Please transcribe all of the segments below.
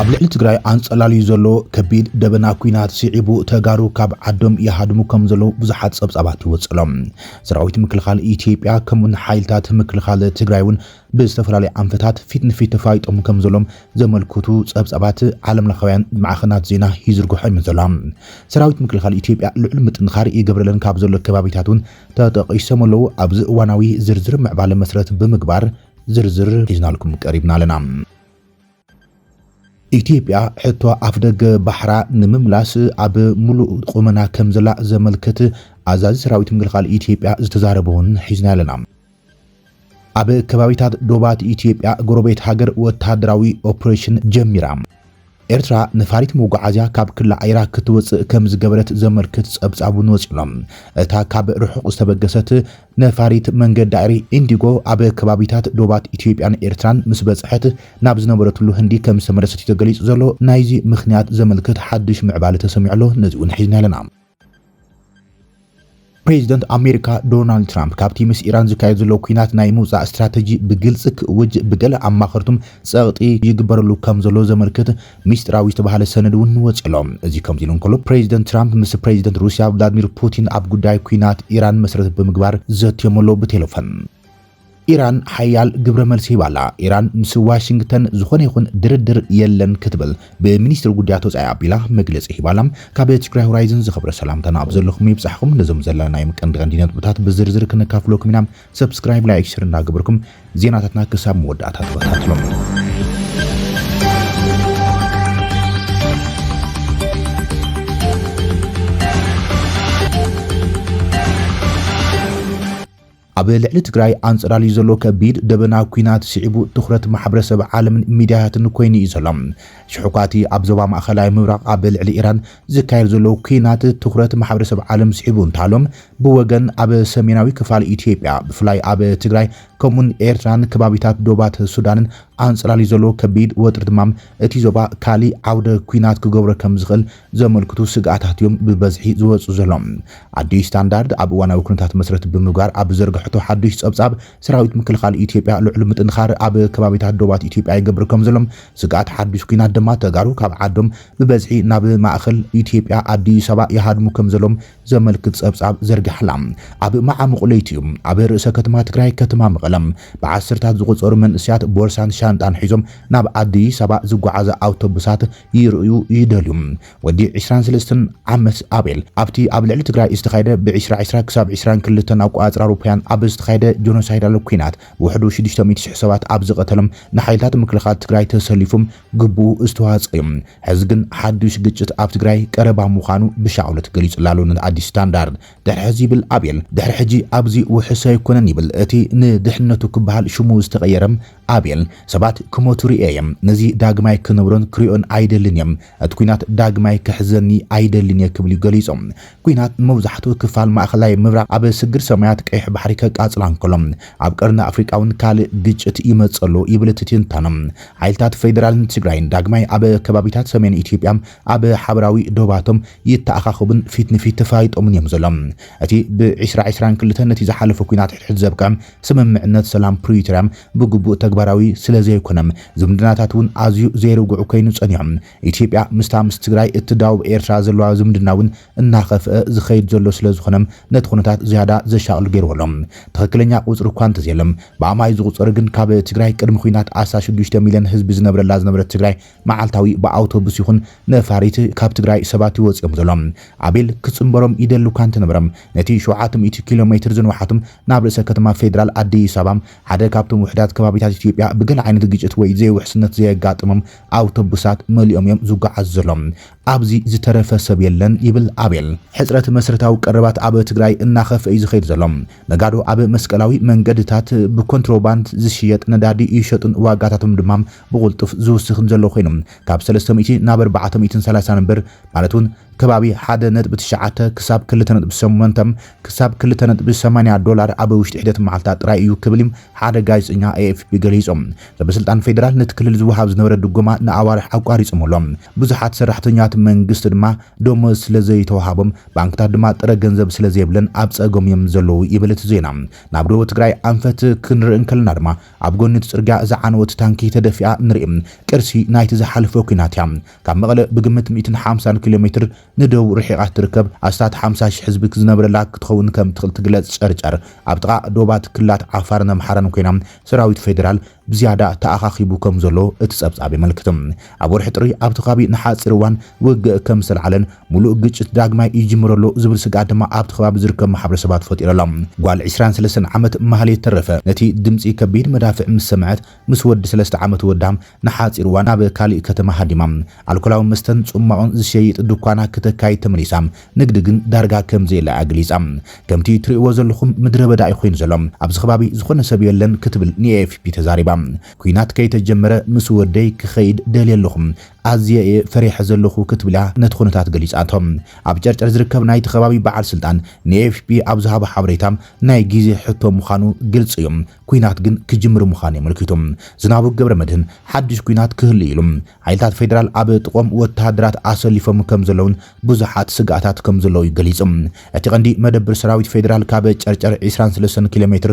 ኣብ ልዕሊ ትግራይ ኣንጸላልዩ ዘሎ ከቢድ ደበና ኩናት ስዒቡ ተጋሩ ካብ ዓዶም ይሃድሙ ከም ዘለዉ ብዙሓት ጸብጻባት ይወጽሎም ሰራዊት ምክልኻል ኢትዮጵያ ከምኡን ሓይልታት ምክልኻል ትግራይ እውን ብዝተፈላለዩ ኣንፈታት ፊት ንፊት ተፋሊጦም ከም ዘሎም ዘመልክቱ ጸብጻባት ዓለምለኻውያን ማዕኸናት ዜና ይዝርግሖ እዩን ዘሎ። ሰራዊት ምክልኻል ኢትዮጵያ ልዑል ምጥንኻር ይገብረለን ካብ ዘሎ ከባቢታት እውን ተጠቒሶም ኣለዉ። ኣብዚ እዋናዊ ዝርዝር ምዕባለ መስረት ብምግባር ዝርዝር ሒዝናልኩም ቀሪብና ኣለና። ኢትዮጵያ ሕቶ ኣፍደገ ባሕራ ንምምላስ ኣብ ሙሉእ ቁመና ከም ዘላ ዘመልክት ኣዛዚ ሰራዊት ምክልኻል ኢትዮጵያ ዝተዛረበ እውን ሒዝና ኣለና። ኣብ ከባቢታት ዶባት ኢትዮጵያ ጎረቤት ሃገር ወተሃደራዊ ኦፕሬሽን ጀሚራ። ኤርትራ ነፋሪት መጓዓዝያ ካብ ክሊ ኣየራ ክትወጽእ ከምዝገበረት ዘመልክት ጸብጻብ'ውን ወጺኡ'ሎ። እታ ካብ ርሑቕ ዝተበገሰት ነፋሪት መንገዲ ኣየር ኢንዲጎ ኣብ ከባቢታት ዶባት ኢትዮጵያን ኤርትራን ምስ በጽሐት ናብ ዝነበረትሉ ህንዲ ከምዝተመለሰት'ዩ ተገሊጹ ዘሎ። ናይዚ ምኽንያት ዘመልክት ሓድሽ ምዕባለ ተሰሚዑ'ሎ፣ ነዚ'ውን ሒዝናዮ ኣለና። ፕሬዚደንት ኣሜሪካ ዶናልድ ትራምፕ ካብቲ ምስ ኢራን ዝካየድ ዘሎ ኩናት ናይ ምውፃእ ስትራተጂ ብግልፂ ክእውጅ ብገለ ኣማኸርቱም ፀቕጢ ይግበረሉ ከም ዘሎ ዘመልክት ሚስጢራዊ ዝተባሃለ ሰነድ እውን ወፂኡ ኣሎ። እዚ ከምዚ ኢሉ እንከሎ ፕሬዚደንት ትራምፕ ምስ ፕሬዚደንት ሩስያ ቭላድሚር ፑቲን ኣብ ጉዳይ ኩናት ኢራን መሰረት ብምግባር ዘትዮምሎ ብቴሌፎን። ኢራን ሓያል ግብረ መልሲ ሂባ ኣላ። ኢራን ምስ ዋሽንግተን ዝኾነ ይኹን ድርድር የለን ክትብል ብሚኒስትሪ ጉዳያት ወፃኢ ኣቢላ መግለፂ ሂባ ኣላ። ካብ ትግራይ ሆራይዝን ዝኸበረ ሰላምታና ኣብ ዘለኹም ይብፃሕኹም። ነዞም ዘለናዮም ቀንዲ ቀንዲ ነጥብታት ብዝርዝር ክነካፍለኩም ኢና። ሰብስክራይብ ላይክ ሸር እንዳገበርኩም ዜናታትና ክሳብ መወዳእታ ተኸታተሎም። ኣብ ልዕሊ ትግራይ ኣንጸላልዩ ዘሎ ከቢድ ደበና ኲናት ስዒቡ ትኹረት ማሕበረሰብ ዓለምን ሚድያታትን ኮይኑ እዩ ዘሎ። ሽሕኳቲ ኣብ ዞባ ማእኸላይ ምብራቕ ኣብ ልዕሊ ኢራን ዝካየድ ዘሎ ኲናት ትኹረት ማሕበረሰብ ዓለም ስዒቡ እንተሃሎም ብወገን ኣብ ሰሜናዊ ክፋል ኢትዮጵያ ብፍላይ ኣብ ትግራይ ከምኡውን ኤርትራን ከባቢታት ዶባት ሱዳንን ኣንጸላልዩ ዘሎ ከቢድ ወጥሪ ድማ እቲ ዞባ ካሊእ ዓውደ ኲናት ክገብሮ ከምዝኽእል ዘመልክቱ ስግኣታት እዮም ብበዝሒ ዝወጽኡ ዘሎ። ኣዲስ ስታንዳርድ ኣብ እዋናዊ ኩነታት መስረት ብምግባር ኣብ ዝዘርገሐቶ ሓዱሽ ጸብጻብ፣ ሰራዊት ምክልኻል ኢትዮጵያ ልዑል ምጥንኻር ኣብ ከባቢታት ዶባት ኢትዮጵያ ይገብር ከምዘሎ ስግኣት ሓዱሽ ኩናት ድማ ተጋሩ ካብ ዓዶም ብበዝሒ ናብ ማእኸል ኢትዮጵያ ኣዲስ ኣበባ ይሃድሙ ከምዘሎም ዘመልክት ጸብጻብ ዘርጊሓ'ላ። ኣብ መዓሙቕ ለይቲ ኣብ ርእሰ ከተማ ትግራይ ከተማ መቐለ ብዓሰርታት ዝቑጸሩ መንእሰያት ቦርሳን ሻንጣን ሒዞም ናብ ኣዲስ ኣበባ ዝጓዓዛ ኣውቶቡሳት ይርእዩ ይደልዩ። ወዲ ዕስራን ሰለስተን ዓመት ኣቤል ኣብቲ ኣብ ልዕሊ ትግራይ ዝተኻየደ ብ ዕስራ ዕስራ ክሳብ ዕስራን ክልተን ኣቆፃፅራ ኣውሮፓውያን ኣብ ዝተኻየደ ጆኖሳይዳል ኲናት ብውሕዱ ሽዱሽተ ሚእቲ ሽሕ ሰባት ኣብ ዝቐተሎም ንሓይልታት ምክልኻል ትግራይ ተሰሊፉ ግቡኡ ዝተዋፅኦ እዩ። ሕዚ ግን ሓዱሽ ግጭት ኣብ ትግራይ ቀረባ ምዃኑ ብሻቕሎት ገሊፁላ ኣሎ ንኣዲስ ስታንዳርድ። ድሕሪ ሕዚ ይብል ኣቤል፣ ድሕሪ ሕጂ ኣብዚ ውሑስ ኣይኮነን ይብል እቲ ንድሕነቱ ክበሃል ሽሙ ዝተቐየረ ኣቤል። ሰባት ክሞቱ ርእየ እየ፣ ነዚ ዳግማይ ክነብሮን ክርእዮን ኣይደልን እየ፣ እቲ ኲናት ዳግማይ ክሕዘኒ ኣይደልን እየ ክብል'ዩ ገሊጹ። ኲናት ንመብዛሕትኡ ክፋል ማእከላይ ምብራቕ ኣብ ስግር ሰማያት ቀይሕ ባሕሪ ከቃጽላ እንከሎ፣ ኣብ ቀርኒ ኣፍሪቃ'ውን ካልእ ግጭት ይመጽእ ኣሎ ይብል እቲ ትንታነ። ሓይልታት ፌደራልን ትግራይን ዳግማይ ኣብ ከባቢታት ሰሜን ኢትዮጵያ ኣብ ሓበራዊ ዶባቶም ይተኣኻኸቡን ፊት ንፊት ተፈያይጦምን እዮም ዘለው። እቲ ብ ዕስራ ዕስራን ክልተን ነቲ ዝሓለፈ ኲናት ሕድሕድ ዘብቅዐ ስምምዕነት ሰላም ፕሪቶርያ ብግቡእ ተግባራዊ ስለዘይኮነ ዝምድናታት እውን ኣዝዩ ዘይርጉዕ ኮይኑ ጸኒሑ። ኢትዮጵያ ምስታ ምስ ትግራይ እትዳወብ ኤርትራ ዘለዋ ዝምድና እውን እናኸፍኣ ዝኸይድ ዘሎ ስለዝኾነ ነቲ ኩነታት ዝያዳ ዘሻቕል ገይርዎ ኣሎ። ትኽክለኛ ቁጽሪ እኳ እንተዘየለ ብኣማኢት ዝቑጸሩ ግን ካብ ትግራይ ቅድሚ ኲናት ኣስታት ሽዱሽተ ሚልዮን ህዝቢ ዝነብረላ ዝነበረት ትግራይ መዓልታዊ ብኣውቶቡስ ይኹን ነፋሪት ካብ ትግራይ ሰባት ይወጽ እዮም ዘሎ። ኣቤል ክጽንበሮም ይደሊ እኳ እንተነበረ፣ ነቲ ሸውዓተ ሚእቲ ኪሎ ሜትር ዝንውሓቱ ናብ ርእሰ ከተማ ፌደራል ኣዲስ ኣበባ፣ ሓደ ካብቶም ውሑዳት ከባቢታት ኢትዮጵያ ብገለ ዓይነት ግጭት ወይ ዘይውሕስነት ዘየጋጠሞም ኣውቶቡሳት መሊኦም እዮም ዝጓዓዙ ዘሎም። ኣብዚ ዝተረፈ ሰብ የለን ይብል ኣቤል። ሕጽረት መሰረታዊ ቀረባት ኣብ ትግራይ እናኸፍኣ እዩ ዝኸይድ ዘሎ። ነጋዶ ኣብ መስቀላዊ መንገድታት ብኮንትሮባንድ ዝሽየጥ ነዳዲ ይሸጡን ዋጋታቶም ድማ ብቕልጡፍ ዝውስኽን ዘሎ ኮይኑ ካብ ሰለስተ ሚእቲ ናብ ኣርባዕተ ሚእትን ሰላሳን ብር ማለት እውን ከባቢ ሓደ ነጥቢ ትሽዓተ ክሳብ ክልተ ነጥቢ ሸሞንተ ክሳብ ክልተ ነጥቢ ሰማንያ ዶላር ኣብ ውሽጢ ሒደት መዓልታት ጥራይ እዩ ክብል እዩ ሓደ ጋዜጠኛ ኤኤፍፒ ገሊጹ። ሰበስልጣን ፌደራል ነቲ ክልል ዝወሃብ ዝነበረ ድጎማ ንኣዋርሕ ኣቋሪጾም ኣሎ። ብዙሓት ሰራሕተኛታት መንግስቲ ድማ ደሞዝ ስለ ዘይተወሃቦም ባንክታት ድማ ጥረ ገንዘብ ስለ ዘይብለን ኣብ ጸገም እዮም ዘለዉ ይብል እቲ ዜና። ናብ ደቡብ ትግራይ ኣንፈት ክንርኢ እንከለና ድማ ኣብ ጎኒ እቲ ጽርግያ ዝዓነወት ታንኪ ተደፊኣ ንርኢ። ቅርሲ ናይቲ ዝሓለፈ ኲናት እያ። ካብ መቐለ ብግምት ሚእትን ሓምሳን ኪሎ ሜትር ንደቡብ ርሒቓ እትርከብ፣ ኣስታት ሓምሳ ሽሕ ህዝቢ ዝነብረላ ክትኸውን ከም እትኽእል ትግለጽ ጨርጨር። ኣብ ጥቓ ዶባት ክልላት ዓፋርን ኣምሓራን ኮይና፣ ሰራዊት ፌደራል ብዝያዳ ተኣኻኺቡ ከም ዘሎ እቲ ጸብጻብ የመልክት። ኣብ ወርሒ ጥሪ ኣብቲ ከባቢ ንሓጺር እዋን ውግእ ከም ዝተልዓለን ሙሉእ ግጭት ዳግማይ ይጅምር ኣሎ ዝብል ስግኣት ድማ ኣብቲ ከባቢ ዝርከብ ማሕበረሰባት ፈጢሩ ኣሎ። ጓል ዕስራን ሰለስተን ዓመት ማህሌት ተረፈ ነቲ ድምጺ ከቢድ መዳፍዕ ምስ ሰምዐት ምስ ወዲ ሰለስተ ዓመት ወዳ ንሓጺር እዋን ናብ ካሊእ ከተማ ሃዲማ ኣልኮላዊ መስተን ጹማቕን ዝሸይጥ ድኳና ክተካይድ ተመሊሳ ንግዲ ግን ዳርጋ ከም ዘየለ እያ ገሊጻ። ከምቲ ትርእይዎ ዘለኹም ምድረ በዳ እዩ ኮይኑ ዘሎ ኣብዚ ከባቢ ዝኾነ ሰብ የለን ክትብል ንኤኤፍፒ ተዛሪባ። ኲናት ከይተጀመረ ምስ ወደይ ክኸይድ ደልየ ኣለኹ፣ ኣዝየ እየ ፈሪሐ ዘለኹ ክትብል እያ ነቲ ኩነታት ገሊጻቶ። ኣብ ጨርጨር ዝርከብ ናይቲ ከባቢ በዓል ስልጣን ንኤኤፍፒ ኣብ ዝሃቦ ሓበሬታ፣ ናይ ግዜ ሕቶ ምዃኑ ግልጺ እዩ፣ ኲናት ግን ክጅምር ምዃኑ የመልኪቱ። ዝናቡ ገብረመድህን ሓድሽ ኲናት ክህሉ እዩ ኢሉ። ሓይልታት ፌደራል ኣብ ጥቕኦም ወተሃደራት ኣሰሊፎም ከም ዘለዉን ብዙሓት ስግኣታት ከም ዘለዉ እዩ ገሊጹ። እቲ ቀንዲ መደብር ሰራዊት ፌደራል ካብ ጨርጨር ዕስራን ስለሰን ኪሎሜትር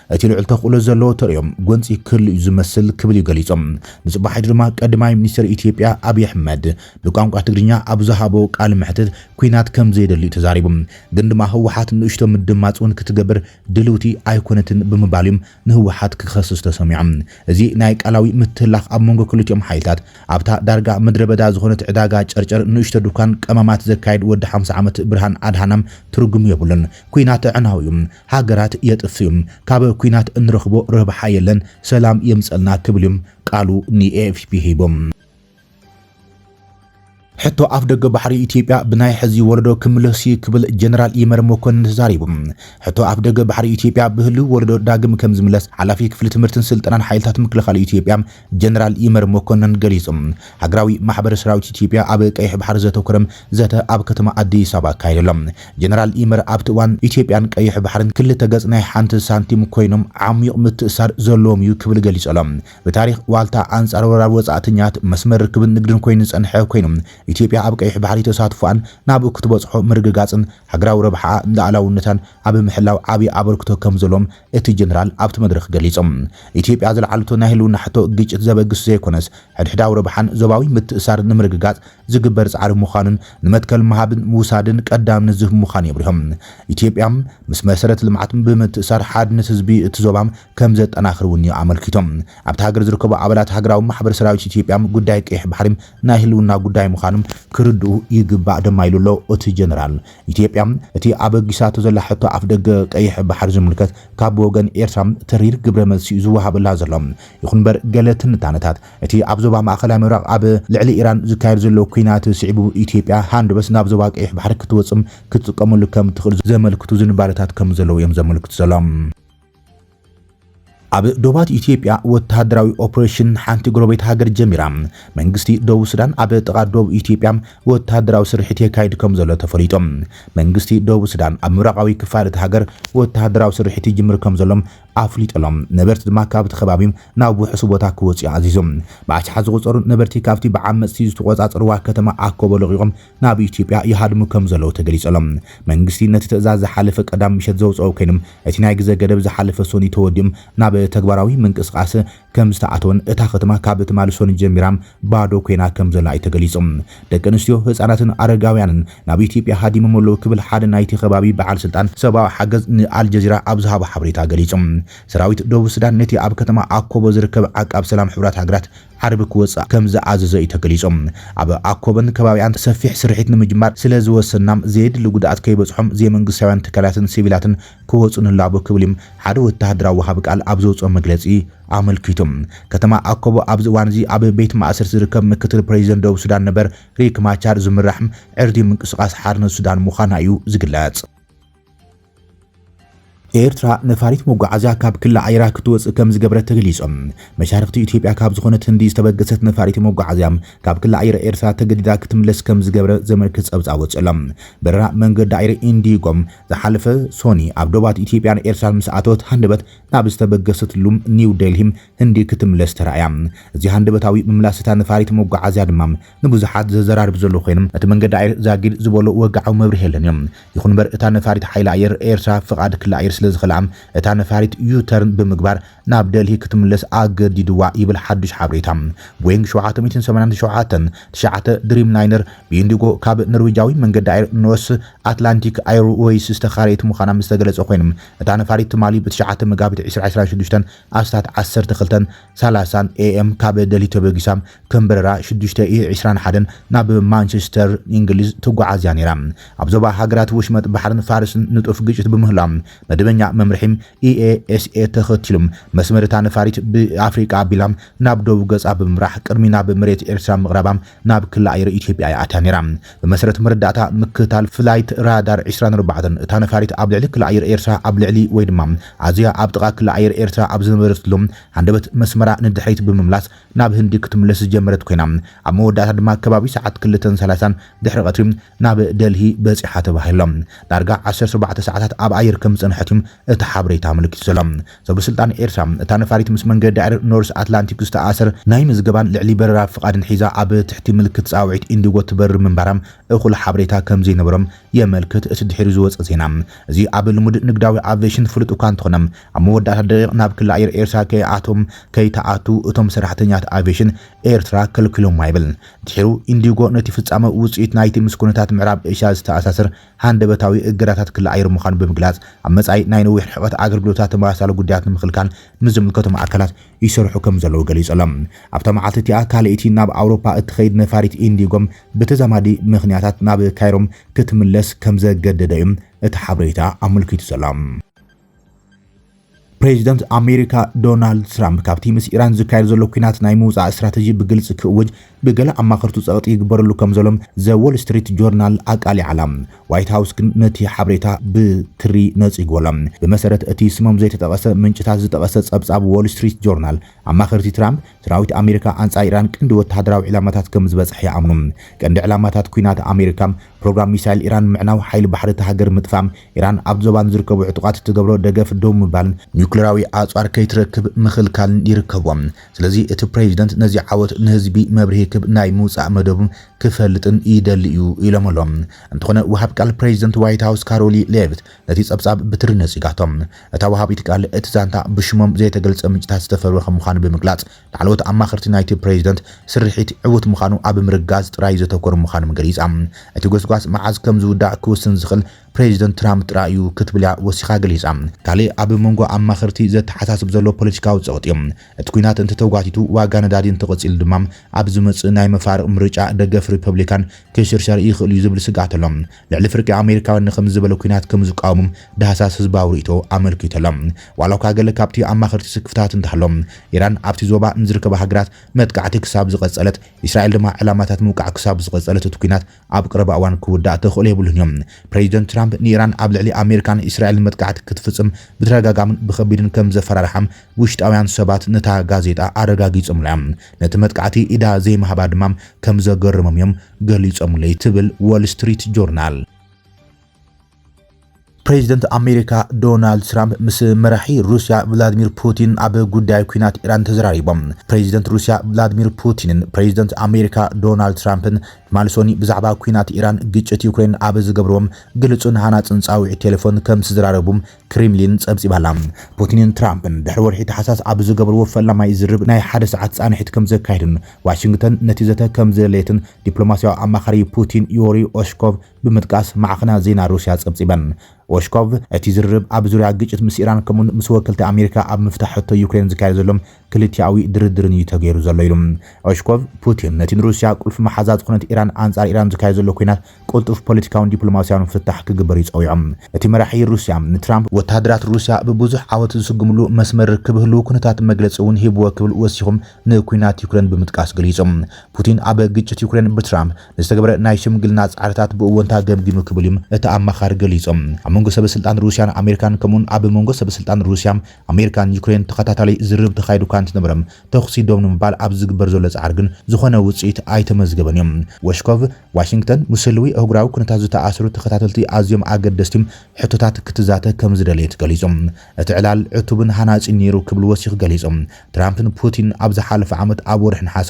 እቲ ልዑል ተኽእሎ ዘለዎ ተርእዮ ጎንጺ ክህሉ እዩ ዝመስል ክብል እዩ ገሊጹ። ንጽባሒቱ ድማ ቀዳማይ ሚኒስተር ኢትዮጵያ ኣብይ ኣሕመድ ብቋንቋ ትግርኛ ኣብ ዝሃቦ ቃለ መሕትት ኲናት ከም ዘየድሊ እዩ ተዛሪቡ። ግን ድማ ህወሓት ንእሽቶ ምድማጽ እውን ክትገብር ድልውቲ ኣይኮነትን ብምባል እዩ ንህወሓት ክኸስስ ተሰሚዑ። እዚ ናይ ቃላዊ ምትህልላኽ ኣብ መንጎ ክልቲኦም ሓይልታት ኣብታ ዳርጋ ምድረበዳ ዝኾነት ዕዳጋ ጨርጨር ንእሽቶ ድኳን ቀማማት ዘካይድ ወዲ ሓምሳ ዓመት ብርሃን ኣድሃናም ትርጉም የብሉን። ኲናት ኣዕናዊ እዩ። ሃገራት የጥፍእ እዩ ካብ ኩናት እንረኽቦ ረብሓ የለን ሰላም የምጸልና ክብል እዩ ቃሉ ንኤኤፍፒ ሂቡ። ሕቶ ኣፍደገ ባሕሪ ኢትዮጵያ ብናይ ሕዚ ወለዶ ክምለስ እዩ ክብል ጀነራል ይመር መኮንን ተዛሪቡ። ሕቶ ኣፍደገ ባሕሪ ኢትዮጵያ ብህልው ወለዶ ዳግም ከም ዝምለስ ሓላፊ ክፍሊ ትምህርትን ስልጠናን ሓይልታት ምክልኻል ኢትዮጵያ ጀነራል ይመር መኮንን ገሊጹ። ሃገራዊ ማሕበር ሰራዊት ኢትዮጵያ ኣብ ቀይሕ ባሕሪ ዘተኮረ ዘተ ኣብ ከተማ ኣዲስ ኣበባ ኣካይዱ ኣሎ። ጀነራል ይመር ኣብቲ እዋን ኢትዮጵያን ቀይሕ ባሕርን ክልተ ገፅ ናይ ሓንቲ ሳንቲም ኮይኖም ዓሚዩቕ ምትእስሳር ዘለዎም እዩ ክብል ገሊፁ ኣሎ። ብታሪኽ ዋልታ ኣንፃር ወራር ወፃእተኛታት መስመር ርክብን ንግድን ኮይኑ ዝፀንሐ ኮይኑ ኢትዮጵያ ኣብ ቀይሕ ባሕሪ ተሳትፎኣን ናብኡ ክትበፅሖ ምርግጋፅን ሃገራዊ ረብሓኣ ልኣላውነታን ኣብ ምሕላው ዓብዪ ኣበርክቶ ከምዘለዎም እቲ ጀነራል ኣብቲ መድረኽ ገሊፆም። ኢትዮጵያ ዘልዓለቶ ናይ ህልውና ሕቶ ግጭት ዘበግስ ዘይኮነስ ሕድሕዳዊ ረብሓን ዞባዊ ምትእስሳርን ንምርግጋፅ ዝግበር ፃዕሪ ምዃኑን ንመትከል ምሃብን ምውሳድን ቀዳምነት ዝህብ ምዃኑ የብሪሆም። ኢትዮጵያ ምስ መሰረተ ልምዓት ብምትእሳር ሓድነት ህዝቢ እቲ ዞባ ከምዘጠናኽር እውን ኣመልኪቶም። ኣብታ ሃገር ዝርከቡ ኣባላት ሃገራዊ ማሕበር ሰራዊት ኢትዮጵያ ጉዳይ ቀይሕ ባሕሪ ናይ ህልውና ጉዳይ ምዃኑ ክርድኡ ይግባእ ድማ ኢሉ ኣሎ እቲ ጀነራል። ኢትዮጵያ እቲ ኣበጊሳቶ ዘላ ሕቶ ኣፍደገ ቀይሕ ባሕሪ ዝምልከት ካብ ብወገን ኤርትራ ተሪር ግብረ መልሲ እዩ ዝወሃበላ ዘሎ። ይኹን እምበር ገለ ትንታነታት እቲ ኣብ ዞባ ማእኸላይ ምብራቕ ኣብ ልዕሊ ኢራን ዝካየድ ዘሎ ኲናት ስዒቡ ኢትዮጵያ ሃንደበስ ናብ ዞባ ቀይሕ ባሕሪ ክትወፅእም ክትጥቀመሉ ከም ትኽእል ዘመልክቱ ዝንባለታት ከም ዘለዉ እዮም ዘመልክቱ ዘሎም። ኣብ ዶባት ኢትዮጵያ ወተሃደራዊ ኦፕሬሽን ሓንቲ ጎረቤት ሃገር ጀሚራ። መንግስቲ ደቡብ ሱዳን ኣብ ጥቓ ዶብ ኢትዮጵያ ወተሃደራዊ ስርሒት የካይድ ከም ዘሎ ተፈሊጡ። መንግስቲ ደቡብ ሱዳን ኣብ ምብራቓዊ ክፋል እቲ ሃገር ወተሃደራዊ ስርሒት ይጅምር ከም ዘሎ ኣፍሊጡሎም። ነበርቲ ድማ ካብ'ቲ ከባቢ ናብ ውሑስ ቦታ ክወጽኡ ኣዚዙ። ብኣሽሓት ዝቑጸሩ ነበርቲ ካብ'ቲ ብዓመጽቲ ዝተቖጻጸርዋ ከተማ ኣኮቦ ለቒቖም ናብ ኢትዮጵያ ይሃድሙ ከም ዘለዉ ተገሊጹ ኣሎ። መንግስቲ ነቲ ትእዛዝ ዝሓለፈ ቀዳም ምሸት ዘውጸኦ ኮይኑ እቲ ናይ ግዘ ገደብ ዝሓለፈ ሰኑይ ተወዲኡ ናብ ተግባራዊ ምንቅስቓስ ከምዝተኣተወን እታ ከተማ ካብ ትማሊ ሰኑይ ጀሚራ ባዶ ኮይና ከምዘላ'ዩ ተገሊጹ። ደቂ ኣንስትዮ፣ ህጻናትን ኣረጋውያንን ናብ ኢትዮጵያ ሃዲሞም ኣለዉ ክብል ሓደ ናይቲ ከባቢ በዓል ስልጣን ሰብኣዊ ሓገዝ ንኣልጀዚራ ኣብ ዝሃቦ ሓበሬታ ገሊጹ። ሰራዊት ደቡብ ሱዳን ነቲ ኣብ ከተማ ኣኮቦ ዝርከብ ዓቃብ ሰላም ሕቡራት ሃገራት ዓርቢ ክወጽእ ከምዝኣዘዘ'ዩ ተገሊጹ። ኣብ ኣኮቦን ከባቢኣን ሰፊሕ ስርሒት ንምጅማር ስለዝወሰንና ዘየድሊ ጉድኣት ከይበጽሖም ዘይመንግስታውያን ትካላትን ሲቪላትን ክወጹ ንላቦ ክብል እዩ ሓደ ወተሃደራዊ ወሃቢ ቃል ኣብ ዘውጽኦ መግለጺ ኣመልኪቱ። ከተማ ኣኮቦ ኣብዚ እዋን'ዚ ኣብ ቤት ማእሰርቲ ዝርከብ ምክትል ፕረዚደንት ደቡብ ሱዳን ነበር ሪክ ማቻር ዝምራሕ ዕርዲ ምንቅስቓስ ሓርነት ሱዳን ምዃና እዩ ዝግለጽ። ኤርትራ ነፋሪት መጓዓዝያ ካብ ክሊ ኣየራ ክትወጽእ ከምዝገበረት ተገሊጹ። መሻርኽቲ ኢትዮጵያ ካብ ዝኾነት ህንዲ ዝተበገሰት ነፋሪት መጓዓዝያ ካብ ክሊ ኣየር ኤርትራ ተገዲዳ ክትምለስ ከምዝገብረ ዘመልክት ጸብጻብ ወጺኡ'ሎ። በረራ መንገዲ ኣየር ኢንዲጎ ዝሓለፈ ሶኒ ኣብ ዶባት ኢትዮጵያ ንኤርትራ ምስ ኣተወት ሃንደበት ናብ ዝተበገሰትሉ ኒው ዴልሂ ህንዲ ክትምለስ ተራእያ። እዚ ሃንደበታዊ ምምላስ እታ ነፋሪት መጓዓዝያ ድማ ንብዙሓት ዘዘራርብ ዘሎ ኮይኑ፣ እቲ መንገዲ ኣየር ዛጊድ ዝበሎ ወግዓዊ መብርሂ የለንዮ። ይኹን'ምበር እታ ነፋሪት ሓይሊ ኣየር ኤርትራ ፍቓድ ክሊ ኣየር ስለዝኸልኣ እታ ነፋሪት ዩ-ተርን ብምግባር ናብ ደልሂ ክትምለስ ኣገዲድዋ ይብል ሓዱሽ ሓበሬታ። ቦይንግ ሸውዓተ ሚእትን ሰማንያን ሸውዓተን ትሽዓተ ድሪምላይነር ብኢንዲጎ ካብ ኖርዌጃዊ መንገዲ ኣየር ኖርስ ኣትላንቲክ ኣየርወይስ ዝተኻረየት ምዃና ምስ ዝተገለጸ ኮይኑ፣ እታ ነፋሪት ትማሊ ብትሽዓተ መጋቢት ዕስራ ዕስራን ሽዱሽተን ኣስታት ዓሰርተ ክልተን ሰላሳን ኤኤም ካብ ደልሂ ተበጊሳ ከም በረራ ሽዱሽተ ኢሂ ዕስራን ሓደን ናብ ማንቸስተር እንግሊዝ ትጓዓዝ እያ ነይራ። ኣብ ዞባ ሃገራት ወሽመጥ ባሕርን ፋርስን ንጡፍ ግጭት ብምህላው መደበኛ መምርሒ EASA ተኸቲሉ መስመር እታ ነፋሪት ብኣፍሪቃ ኣቢላ ናብ ደቡብ ገጻ ብምምራሕ ቅድሚ ናብ መሬት ኤርትራ ምቕራባ ናብ ክሊ ኣየር ኢትዮጵያ እያ ኣትያ ነይራ። ብመሰረት መረዳእታ ምክትታል ፍላይት ራዳር ዕስራን ኣርባዕተን እታ ነፋሪት ኣብ ልዕሊ ክሊ ኣየር ኤርትራ ኣብ ልዕሊ ወይ ድማ ኣዝያ ኣብ ጥቓ ክሊ ኣየር ኤርትራ ኣብ ዝነበረትሉ ሃንደበት መስመራ ንድሕሪት ብምምላስ ናብ ህንዲ ክትምለስ ዝጀመረት ኮይና ኣብ መወዳእታ ድማ ከባቢ ሰዓት ክልተን ሰላሳን ድሕሪ ቀትሪ ናብ ደልሂ በጺሓ ተባሂሉ ዳርጋ ዓሰርተ ኣርባዕተ ሰዓታት ኣብ ኣየር ከምዝጸንሐት'ዩ እቲ ሓበሬታ ኣመልኪቱ ዘሎ። ሰበስልጣን ኤርትራ፣ እታ ነፋሪት ምስ መንገዲ ኣየር ኖርዝ ኣትላንቲክ ዝተኣሳሰር ናይ ምዝገባን ልዕሊ በረራ ፍቓድን ሒዛ ኣብ ትሕቲ ምልክት ጻውዒት ኢንዲጎ ትበርር ምንባራ እኹል ሓበሬታ ከምዘይነበሮም የመልክት እቲ ድሒሩ ዝወጸ ዜና። እዚ ኣብ ልሙድ ንግዳዊ ኣቬሽን ፍሉጥ እኳ እንተኾነ፣ ኣብ መወዳእታ ደቒቕ ናብ ክሊ ኣየር ኤርትራ ከይኣትው ከይትኣቱ እቶም ሰራሕተኛታት ኣቬሽን ኤርትራ ከልኪሎማ ይብል ቲሩ ኢንዲጎ ነቲ ፍጻመ ውጽኢት ናይቲ ምስ ኩነታት ምዕራብ ኤሽያ ዝተኣሳሰር ሃንደበታዊ እገዳታት ክሊ ኣየር ምዃኑ ብምግላጽ፣ ኣብ መጻኢ ናይ ነዊሕ ርሕቐት ኣገልግሎታት ተመሳሳሊ ጉዳያት ንምኽልካል ምስ ዝምልከቶም ኣካላት ይሰርሑ ከም ዘለዉ ገሊጹ ኣሎ። ኣብታ መዓልቲ እቲኣ ካልእቲ ናብ ኣውሮፓ እትኸይድ ነፋሪት ኢንዲጎ ብተዛማዲ ምኽንያታት ናብ ካይሮ ክትምለስ ከም ዘገደደ'ዩ እቲ ሓበሬታ ኣመልኪቱ ዘሎ። ፕሬዚደንት ኣሜሪካ ዶናልድ ትራምፕ ካብቲ ምስ ኢራን ዝካየድ ዘሎ ኩናት ናይ ምውፃእ ስትራተጂ ብግልፂ ክእውጅ ብገለ ኣማኸርቱ ፀቕጢ ይግበረሉ ከም ዘሎ ዘ ዎል ስትሪት ጆርናል ኣቃሊዓላ ዋይት ሃውስ ግን ነቲ ሓበሬታ ብትሪ ነፂጎላ ብመሰረት እቲ ስሞም ዘይተጠቐሰ ምንጭታት ዝጠቐሰ ፀብፃብ ዎል ስትሪት ጆርናል ኣማኸርቲ ትራምፕ፣ ሰራዊት ኣሜሪካ ኣንጻር ኢራን ቀንዲ ወተሃደራዊ ዒላማታት ከም ዝበጽሐ ይኣምኑ። ቀንዲ ዕላማታት ኲናት ኣሜሪካ፣ ፕሮግራም ሚሳይል ኢራን ምዕናው፣ ሓይሊ ባሕሪ እታ ሃገር ምጥፋእ፣ ኢራን ኣብቲ ዞባ ንዝርከቡ ዕጡቓት እትገብሮ ደገፍ ደው ምባልን፣ ኒዩክለራዊ ኣጽዋር ከይትረክብ ምኽልካልን ይርከብዎም። ስለዚ እቲ ፕሬዚደንት ነዚ ዓወት ንህዝቢ መብርሂ ክብ ናይ ምውጻእ መደቡ ክፈልጥን ይደሊ እዩ ኢሎም ኣለው። እንተኾነ ወሃብ ቃል ፕሬዚደንት ዋይት ሃውስ ካሮሊ ሌቪት እቲ ጸብጻብ ብትሪ ነጺጋቶ። እታ ወሃቢት ቃል፣ እቲ ዛንታ ብሽሞም ዘይተገልጸ ምንጭታት ዝተፈብረኸ ምዃኑ ብምግላጽ፣ ላዕለዎት ኣማኸርቲ ናይቲ ፕረዚደንት ስርሒት ዕዉት ምዃኑ ኣብ ምርግጋጽ ጥራይ ዘተኮሩ ምዃኖም ገሊጻ። እቲ ጎስጓስ መዓዝ ከም ዝውዳእ ክውስን ዝኽእል ፕረዚደንት ትራምፕ ጥራይ እዩ ክትብል'ያ ወሲኻ ገሊጻ። ካልእ ኣብ መንጎ ኣማኸርቲ ዘተሓሳስብ ዘሎ ፖለቲካዊ ጸቕጢ'ዩ። እቲ ኲናት እንተተጓቲቱ፣ ዋጋ ነዳዲ እንተቐጺሉ ድማ ኣብ ዝመጽእ ናይ መፋርቕ ምርጫ ደገፍ ሪፐብሊካን ክሽርሸር ይኽእል እዩ ዝብል ስግኣት ኣሎ። ልዕሊ ፍርቂ ኣመሪካውያን ንኸምዚ ዝበለ ኲናት ከም ዝቃወሙ ዳህሳስ ህዝባዊ ርእይቶ ኣመልኪቱ ኣሎ። ዋላ'ኳ ገለ ካብቲ ኣማኸርቲ ስክፍታት እንተሃለዎም፣ ኢራን ኣብቲ ዞባ ንዝርከባ ሃገራት መጥቃዕቲ ክሳብ ዝቐጸለት፣ እስራኤል ድማ ዕላማታት ምውቃዕ ክሳብ ዝቐጸለት እቲ ኲናት ኣብ ቀረባ እዋን ክውዳእ ተኽእሎ የብሉን እዩ። ፕረዚደንት ትራምፕ ንኢራን ኣብ ልዕሊ ኣሜሪካን እስራኤልን መጥቃዕቲ ክትፍጽም ብተደጋጋምን ብኸቢድን ከም ዘፈራርሓ ውሽጣውያን ሰባት ነታ ጋዜጣ ኣረጋጊጾምላ እዮም። ነቲ መጥቃዕቲ ኢዳ ዘይምሃባ ድማ ከም ዘገረሞም እዮም ገሊጾምለይ ትብል ዎል ስትሪት ጆርናል። ፕሬዚደንት ኣሜሪካ ዶናልድ ትራምፕ ምስ መራሒ ሩስያ ቭላድሚር ፑቲን ኣብ ጉዳይ ኩናት ኢራን ተዘራሪቦም። ፕሬዚደንት ሩስያ ቭላድሚር ፑቲንን ፕሬዚደንት ኣሜሪካ ዶናልድ ትራምፕን ትማሊ ሶኒ ብዛዕባ ኩናት ኢራን ግጭት ዩክሬን ኣብ ዝገብርዎም ግልጹን ሃናጽን ጻውዒት ቴሌፎን ከም ዝተዘራረቡ ክሪምሊን ጸብጺባላ። ፑቲንን ትራምፕን ድሕሪ ወርሒ ታሕሳስ ኣብ ዝገበርዎ ፈላማይ ዝርብ ናይ ሓደ ሰዓት ጻንሒት ከም ዘካየዱን ዋሽንግተን ነቲ ዘተ ከም ዝደለየትን ዲፕሎማስያዊ ኣማኻሪ ፑቲን ዮሪ ኦሽኮቭ ብምጥቃስ ማዕኸናት ዜና ሩስያ ጸብጺበን። ዎሽኮቭ፣ እቲ ዝርርብ ኣብ ዙርያ ግጭት ምስ ኢራን ከምኡ'ውን ምስ ወከልቲ ኣሜሪካ ኣብ ምፍታሕ ሕቶ ዩክሬን ዝካየድ ዘሎ ክልቲኣዊ ድርድርን እዩ ተገይሩ ዘሎ ኢሉ። ዎሽኮቭ፣ ፑቲን ነቲ ንሩስያ ቁልፊ መሓዛ ዝኾነት ኢራን ኣንጻር ኢራን ዝካየድ ዘሎ ኲናት ቅልጡፍ ፖለቲካውን ዲፕሎማስያውን ፍታሕ ክግበር እዩ ጸዊዑ። እቲ መራሒ ሩስያ ንትራምፕ፣ ወተሃደራት ሩስያ ብብዙሕ ዓወት ዝስጉምሉ መስመር ርክብ ህሉው ኩነታት መግለጺ'ውን ሂብዎ ክብል ወሲኹ ንኲናት ዩክሬን ብምጥቃስ ገሊጹ። ፑቲን ኣብ ግጭት ዩክሬን ብትራምፕ፣ ንዝተገበረ ናይ ሽምግልና ጻዕርታት ብእወንታ ገምጊሙ ክብል'ዩም እቲ ኣማኻሪ ገሊጾም። ኣብ መንጎ ሰበ ስልጣን ሩስያን ኣሜሪካን ከምኡ'ውን ኣብ መንጎ ሰበ ስልጣን ሩስያ፣ ኣሜሪካን ዩክሬን ተኸታታሊ ዝርርብ ተኻይዱ'ኳ እንተነበረም ተኹሲ ደው ንምባል ኣብ ዝግበር ዘሎ ጻዕሪ ግን ዝኾነ ውጽኢት ኣይተመዝገበን'ዩም። ወሽኮቭ፣ ዋሽንግተን ምስ ህልዊ ኣህጉራዊ ኩነታት ዝተኣሰሩ ተኸታተልቲ ኣዝዮም ኣገደስቲ ሕቶታት ክትዛተ ከምዝደለየት ገሊጹ። እቲ ዕላል ዕቱብን ሃናጺን ነይሩ ክብል ወሲኹ ገሊጹ። ትራምፕን ፑቲንን ኣብ ዝሓለፈ ዓመት ኣብ ወርሒ ነሓሰ፣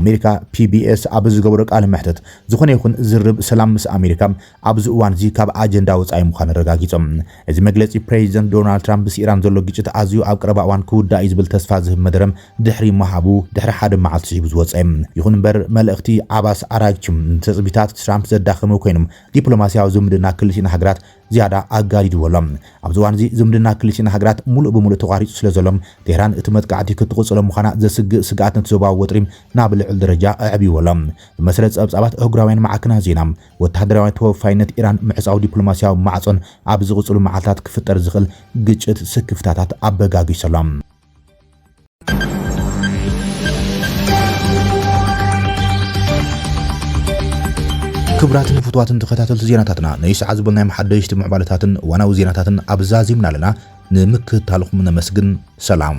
ኣሜሪካ፣ ፒቢኤስ ኣብ ዝገበሮ ቃለ መሕትት፣ ዝኾነ ይኹን ዝርርብ ሰላም ምስ ኣሜሪካ ኣብዚ እዋን'ዚ ካብ ኣጀንዳ ወጻኢ ምዃኑ ኣረጋጊጾም። እዚ መግለጺ ፕሬዚደንት ዶናልድ ትራምፕ ምስ ኢራን ዘሎ ግጭት ኣዝዩ ኣብ ቀረባ እዋን ክውዳእ'ዩ ዝብል ተስፋ ዝህብ መደረ ድሕሪ ምሃቡ ድሕሪ ሓደ መዓልቲ ስዒቡ ዝወጸ'ዩ። ይኹን'ምበር መልእኽቲ ዓባስ ኣራግቺ ንትጽቢታት ትራምፕ ዘዳኸሙ ኮይኖም፣ ዲፕሎማስያዊ ዝምድና ክልቲኤን ሃገራት ዝያዳ ኣጋዲድዎ ኣሎ። ኣብዚ እዋን እዚ ዝምድና ክልቲኤን ሃገራት ምሉእ ብምሉእ ተቋሪጹ ስለዘሎ፣ ቴህራን እቲ መጥቃዕቲ ክትቕጽሎ ምዃና ዘስግእ ስግኣት ነቲ ዞባዊ ወጥሪ ናብ ልዑል ደረጃ ኣዕብይዎ ኣሎ። ብመሰረት ጸብጻባት ኣህጉራውያን ማዕከናት ዜና፣ ወተሃደራዊ ተወፋይነት ኢራን ምዕጻው ዲፕሎማስያዊ ማዕጾን ኣብ ዝቕጽሉ መዓልታት ክፍጠር ዝኽእል ግጭት ስክፍታታት ኣበጋጊሱ ኣሎ። ክብራትን ፍትዋትን ተኸታተልቲ ዜናታትና ነይ ሰዓት ዝበልናዮም ሓደሽቲ ምዕባለታትን እዋናዊ ዜናታትን ኣብ ዛዚምና ኣለና ንምክትታልኹም ነመስግን ሰላም